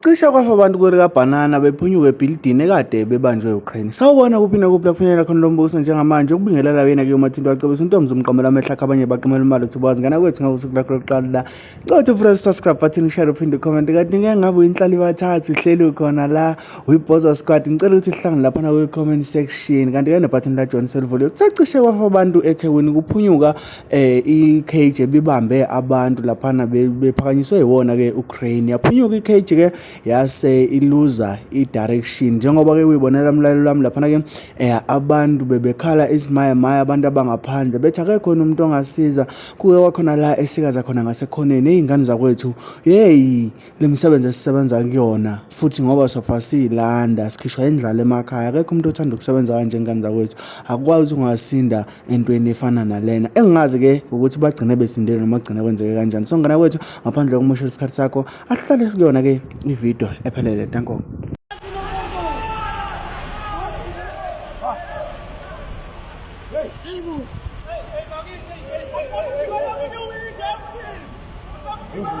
Cishe kwafa abantu kwelikabhanana bephunyuka ebhilidini ekade bebanjwe uCrane. Sawubona kuphi nakuphi la kufinyelela khona lo mbuso njengamanje ukubingelela kuyena ke uMathinto wacebisa uNtomzi umqamela amehlo akhe abanye baqimela imali uthi ubazi ngana kwethu ngosuku lakho lokuqala la. Cothe futhi subscribe button share uphinde comment kanti ngeke ngabe uyinhlali bathathu uhleli khona la uyibhoza squad ngicela ukuthi sihlangane lapha na kwi comment section kanti ke ne button la John Selvuliyo kucacishe kwafa abantu eThekwini kuphunyuka eh iCage bibambe abantu lapha na bephakanyiswe yiwona ke Ukraine yaphunyuka iCage ke yase iluza idirection njengoba ke uyibonela umlalelo wami laphana ke eh abantu bebekhala isimaya maya abantu abangaphandle bethi akekho umuntu ongasiza kuke kwakhona la esikaza khona ngasekhoneni ezingane zakwethu hey lemisebenzi esisebenza kuyona futhi ngoba sofa silanda sikhishwa indlala emakhaya akekho umuntu othanda ukusebenza kanje ingane zakwethu akwazi ungasinda entweni efana nalena engingazi ke ukuthi bagcine besindele noma kugcine kwenzeke kanjani so ngana kwethu ngaphandle kokumoshela isikhathi sakho asihlale sikuyona ke ivideo ephelele danko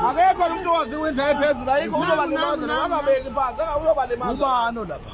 akekho umuntu owazi winja ephezulu ayikho uzobalimaza nababeki phansi uzobalimaza ubani lapha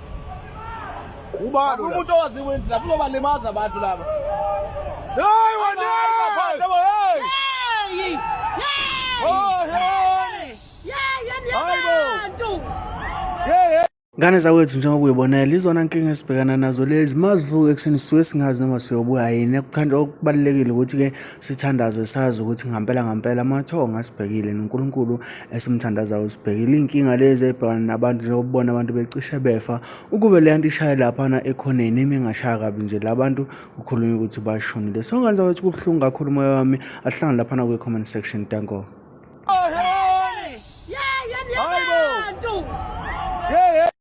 Ubani umuntu owaziyo ukuthi lapho uzobalimaza abantu laba. Hey wena! Hey! Oh, hey! Hayibo! Ngane zakwethu njengoba uyibonela izona nkinga esibhekana nazo lezi mazivuke ekuseni sisuke singazi noma siyobuya yini ekuthanda okubalulekile ukuthi-ke sithandaze sazi ukuthi ngampela ngampela amathongo asibhekile noNkulunkulu esimthandazayo usibhekile iy'nkinga lezi ey'bhekana nabantu njengokubona abantu becishe befa ukube le nto ishaye laphana ekhoneni imi ingashaya kabi nje la bantu kukhulunywa ukuthi bashonile so nganza kwethu kubuhlungu kakhulu umoya wami ahlangane laphana kwi-comment section tanko